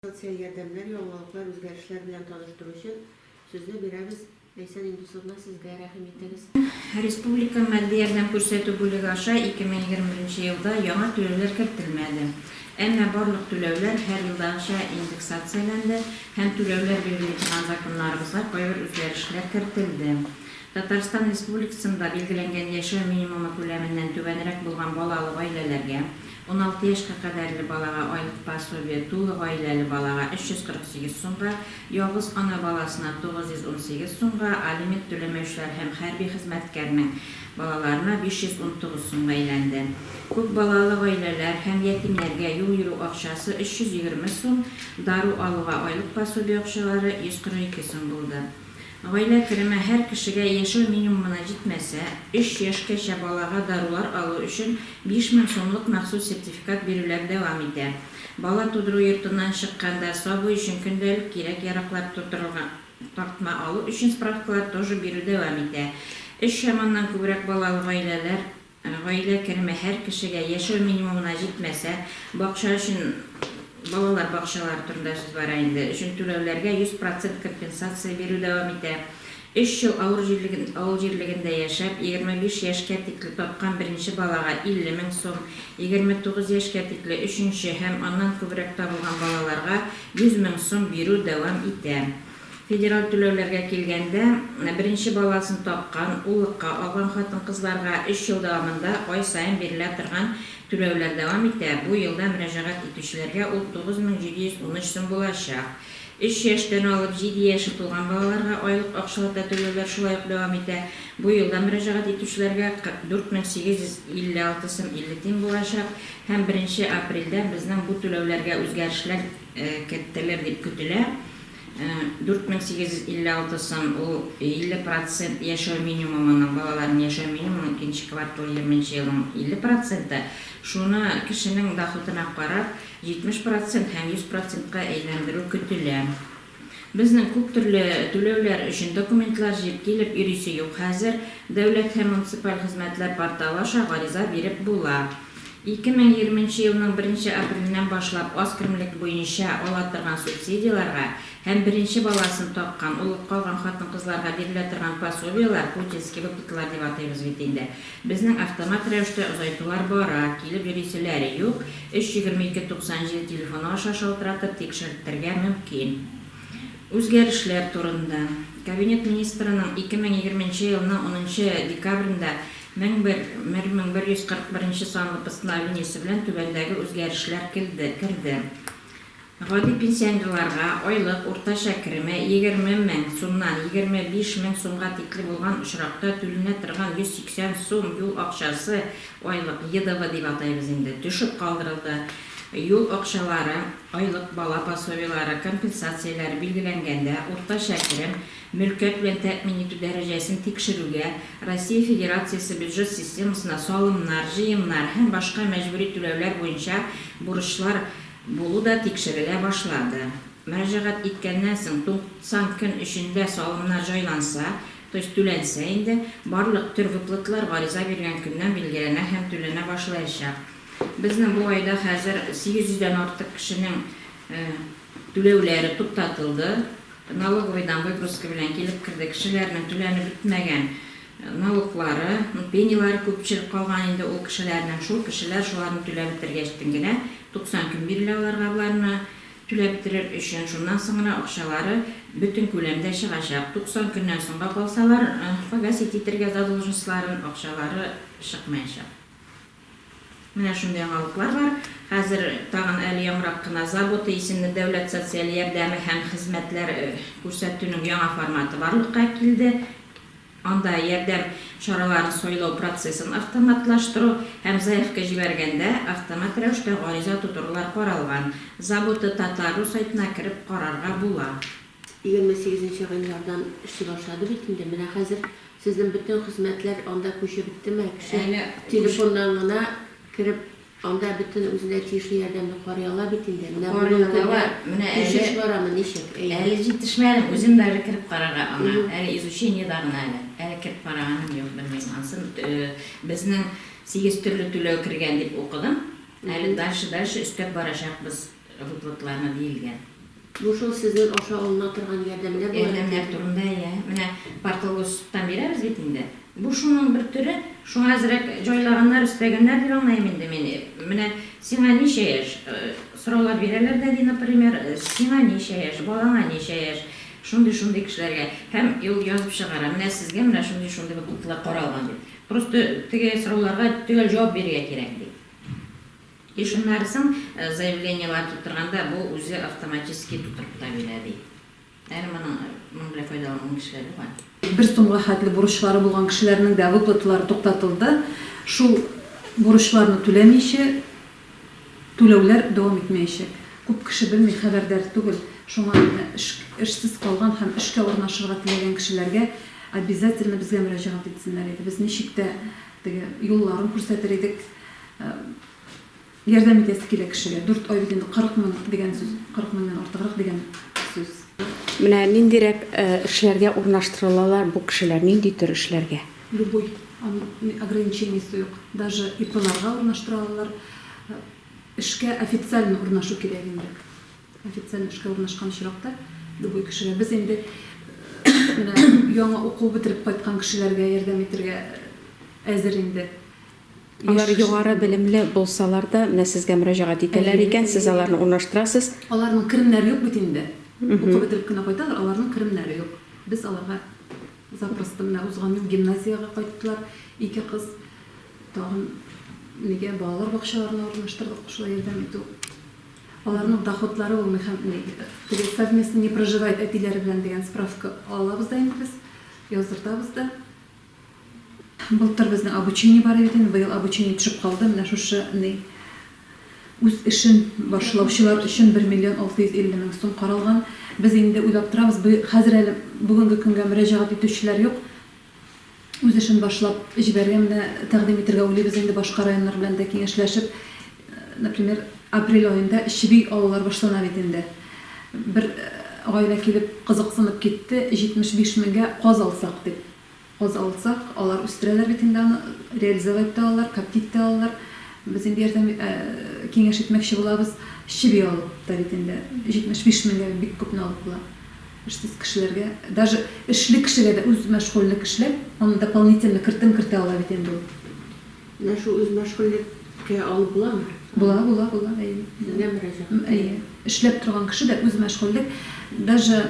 Социаль ярдәмнәр, яңалыклар, үзгәрешләр белән таныштыру өчен сүзне бирәбез. Ләйсән Индусовна, сезгә рәхим итегез. Республика матди ярдәм күрсәтү бүлеге аша 2021 елда яңа түләүләр кертелмәде. Әмма барлык түләүләр һәр елдагыча индексацияләнде һәм түләүләр бирелми торган законнарыбызга кайбер үзгәрешләр кертелде. Татарстан Республикасында билгеләнгән яшәү минимумы күләменнән түбәнрәк булган балалы гаиләләргә, Уналты яшькә кадәрле балага айлык пособие тулы гаиләле балага 348 сумга, ялгыз ана баласына 918 сумга, алимент түләмәүчеләр һәм хәрби хезмәткәрнең балаларына 519 сумга әйләнде. Күп балалы гаиләләр һәм ятимнәргә юл йөрү акчасы 320 сум, дару алуга айлык пособие акчалары 142 сум булды. Гаилә кереме һәр кешегә яшәү минимумына җитмәсә, өч яшькәчә балага дарулар алу өчен 5 мең сумлык махсус сертификат бирүләр дәвам итә. Бала тудыру йортыннан чыкканда сабый өчен көндәлек кирәк-яраклар тутырылган тартма алу өчен справкалар тоже бирү дәвам итә. Өч чаманнан күбрәк балалы гаиләләр Гаилә кереме һәр кешегә яшәү минимумына җитмәсә, бакча өчен, балалар бакчалары турында сүз бара инде, өчен түләүләргә 100 процент компенсация бирү дәвам итә. Өч ел авыр җирлеген, авыл җирлегендә яшәп, 25 яшькә тикле тапкан беренче балага 50 мең сум, 29 яшькә тикле өченче һәм аннан күбрәк табылган балаларга 100 мең сум бирү дәвам итә. Федераль түләүләргә килгәндә, беренче баласын тапкан, уллыкка алган хатын-кызларга өч ел дәвамында ай саен бирелә торган түләүләр дәвам итә, бу елда мөрәҗәгать итүчеләргә ул 9713 сум булачак. Өч яшьтән алып җиде яше тулган балаларга айлык акчалата түләүләр шулай ук дәвам итә, бу елда мөрәҗәгать итүчеләргә 44856 сум 50 тиен булачак һәм беренче апрельдән безнең бу түләүләргә үзгәрешләр кертелер дип көтелә. 4856 сум, ул 50 процент яшәү минимумының, балаларның яшәү минимумының икенче кварталы 20 нче елның 50 проценты, шуны кешенең доходына карап, 70 процент һәм 100 процентка әйләндерү көтелә. Безнең күп төрле түләүләр өчен документлар җыеп килеп йөрисе юк хәзер, Дәүләт һәм муниципаль хезмәтләр порталы аша гариза биреп була. 2020 нче елның беренче апреленнән башлап аз керемлек буенча ала торган субсидияләргә һәм беренче баласын тапкан, улып калган хатын-кызларга бирелә торган пособиеләр, путинские выплаталар дип атыйбыз бит инде, безнең автомат рәвештә озайтулар бара, килеп йөриселәре юк, 3 егерме ике туксан җиде телефоны аша шалтыратып тикшерттергә мөмкин. Үзгәрешләр турында. Кабинет Министрының 2020 нче елның унынчы декабрендә 1001 1141 санлы Постановлениесе белән түбәндәге үзгәрешләр келде керде. Гади пенсионерларга айлык уртача кереме 20 мең сумнан 25 мең сумга тикле булган очракта түленә торган 180 сум юл акчасы, айлык, ЕДВ дип атайбыз инде, төшеп калдырылды. Юл акчалары, айлык, бала пособиеләре, компенсацияләре билгеләнгәндә, уртача керем, мөлкәт белән тәэмин итү дәрәҗәсен тикшерүгә, Россия Федерациясе бюджет системасына салымнар, җыемнар һәм башка мәҗбүри түләүләр буенча бурычлар булу да тикшерелә башлады. Мөрәҗәгать иткәннән соң 90 көн эчендә салымнар җайланса, то есть түләнсә инде, барлык төр выплаталар гариза биргән көннән билгеләнә һәм түләнә башлаячак. Безнең бу айда хәзер 800 дән артык кешенең түләүләре туктатылды. Налоговыйдан выписка белән килеп керде. Кешеләрнең түләнеп бетмәгән налоглары, пенилары күпчелек калган инде ул кешеләрнең. Шул кешеләр шуларны түләп бетергәчтен генә 90 көн бирелә аларга боларны түләп бетерер өчен. Шуннан соңра акчалары бөтен күләмдә чыгачак. 90 көннән соңга калсалар, погасить итергә задолженностьларын, акчалары чыкмаячак. Менә шундый яңалыклар бар. Хәзер тагын әле яңарак кына Забота исемле дәүләт социаль ярдәме һәм хезмәтләр күрсәтүнең яңа форматы барлыкка килде. Анда ярдәм чараларын сайлау процессын автоматлаштыру һәм заявка җибәргәндә автомат рәвештә гариза тутырулар каралган. Забота. Татару сайтына кереп карарга була. Егерме сигезенче гыйнвардан эшли башлады бит инде. Менә хәзер сезнең бөтен хезмәтләр анда күчеп беттеме? Кеше телефоннан гына кереп, анда бөтен үзенә тиешле ярдәмне карый ала бит инде. Менә бүгенге көндә күчеш барамы, ничек? Әйе. Әле җитешмәдем, үзем дә әле кереп карарга аңа. Әле изучениедә гына әле. Әле кереп караганым юк, белмим. Ансын безнең сигез төрле түләү кергән дип укыдым. Әле дальше-дальше өстәп барачакбыз. Выплатларына диелгән. Бу шул сезнең аша алына торган ярдәмнәр була бит инде. Ярдәмнәр турында, иә. Менә Партолгостан бирәбез бит инде. Бу шуның бер төре. Шуңа әзрәк җайлаганнар, өстәгәннәр дип аңлыйм инде мин. Менә сиңа ничә яшь? Сораулар бирәләр дә ди, например, сиңа ничә яшь, балаңа ничә яшь, шундый-шундый кешеләргә. Һәм ул язып чыгара, менә сезгә менә шундый-шундый выплатлар каралган дип. Просто теге сорауларга төгәл җавап бирергә кирәк, ди. Ишеннән соң заявлениеләр тутырганда бу үзе автоматически тутырып та бирә, ди. Әле моның моның белән файдаланган кешеләр дә бар. Бер сумга хәтле бурычлары булган кешеләрнең дә выплаталары туктатылды. Шул бурычларны түләмичә, түләүләр дәвам итмәячәк. Күп кеше белми, хәбәрдар түгел. Шуңа эшсез калган һәм эшкә урнашырга теләгән кешеләргә обязательно безгә мөрәҗәгать итсеннәр иде. Без ничек тә теге юлларын күрсәтер идек. Ярдәм итәсе килә кешегә. Дүрт ай бит инде кырык мең дигән сүз. Кырык меңнән артыграк дигән сүз. Менә ниндирәк эшләргә урнаштырылалар бу кешеләр, нинди төр эшләргә? Любой. Аның ограничениесе юк. Даже ИПларга урнаштыра алалар. Эшкә официально урнашу кирәк инде. Официально эшкә урнашкан очракта любой кешегә. Без инде менә яңа уку бетереп кайткан кешеләргә ярдәм итәргә әзер инде. Алар югары белемле булсалар да, менә сезгә мөрәҗәгать итәләр икән, сез аларны урнаштырасыз. Аларның керемнәре юк бит инде. Уку бетереп кенә кайталар, аларның керемнәре юк. Без аларга запросто, менә узган ел гимназиягә кайттылар ике кыз. Тагын нигә балалар бакчаларына урнаштырдык, шулай ярдәм итү. Аларның доходлары булмый һәм теге совместно не проживает әтиләре белән дигән справка алабыз да инде без, яздыртабыз да. Былтыр безнең обучение бар бит инде, быел обучение төшеп калды, менә шушы ни үз эшен башлаучылар өчен бер миллион алты йөз илле мең сум каралган. Без инде уйлап торабыз, быел, хәзер әле бүгенге көнгә мөрәҗәгать итүчеләр юк. Үз эшен башлап җибәргән менә тәкъдим итергә уйлыйбыз инде башка районнар белән дә киңәшләшеп, например, апрель аенда чеби алулар башлана бит инде. Бер гаилә килеп кызыксынып китте, 75 меңгә каз алсак дип. Аз алсак, алар үстерәләр бит инде аны, реализовать та алалар, коптить та алалар. Без инде ярдәм, киңәш итмәкче булабыз. Чеби алып та бит инде 75 меңгә бик күпне алып була. Эшсез кешеләргә, даже эшле кешегә дә, үз мәшгульлек эшләп, аны дополнительно кертем кертә ала бит инде ул. Менә шул үзмәшгульлек кә алып буламы? Була, була, була, әйе. Сезгә мөрәҗәгать итә. Әйе. Эшләп торган кеше дә үзмәшгульлек, даже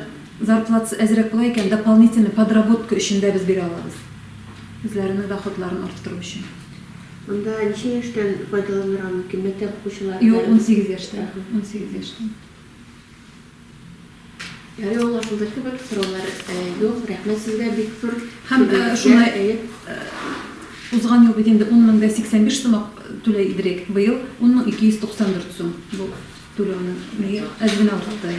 зарплатасы әзрәк була икән, дополнительный подработка өчен дә без бирә алабыз. Үзләренең доходларын арттыру өчен. Монда ничә яшьтән файдаланырга мөмкин? Мәктәп укучылары да? Юк, унсигез яшьтән. Унсигез яшьтән. Әле аңа шулдыр кебек сораулар юк. Рәхмәт сезгә бик зур. Һәм шуны узган ел бит инде 10 меңдә 85 сумак түләй идерек. Быел 10 мең 294 сум бу түләүнең. Әз генә артты.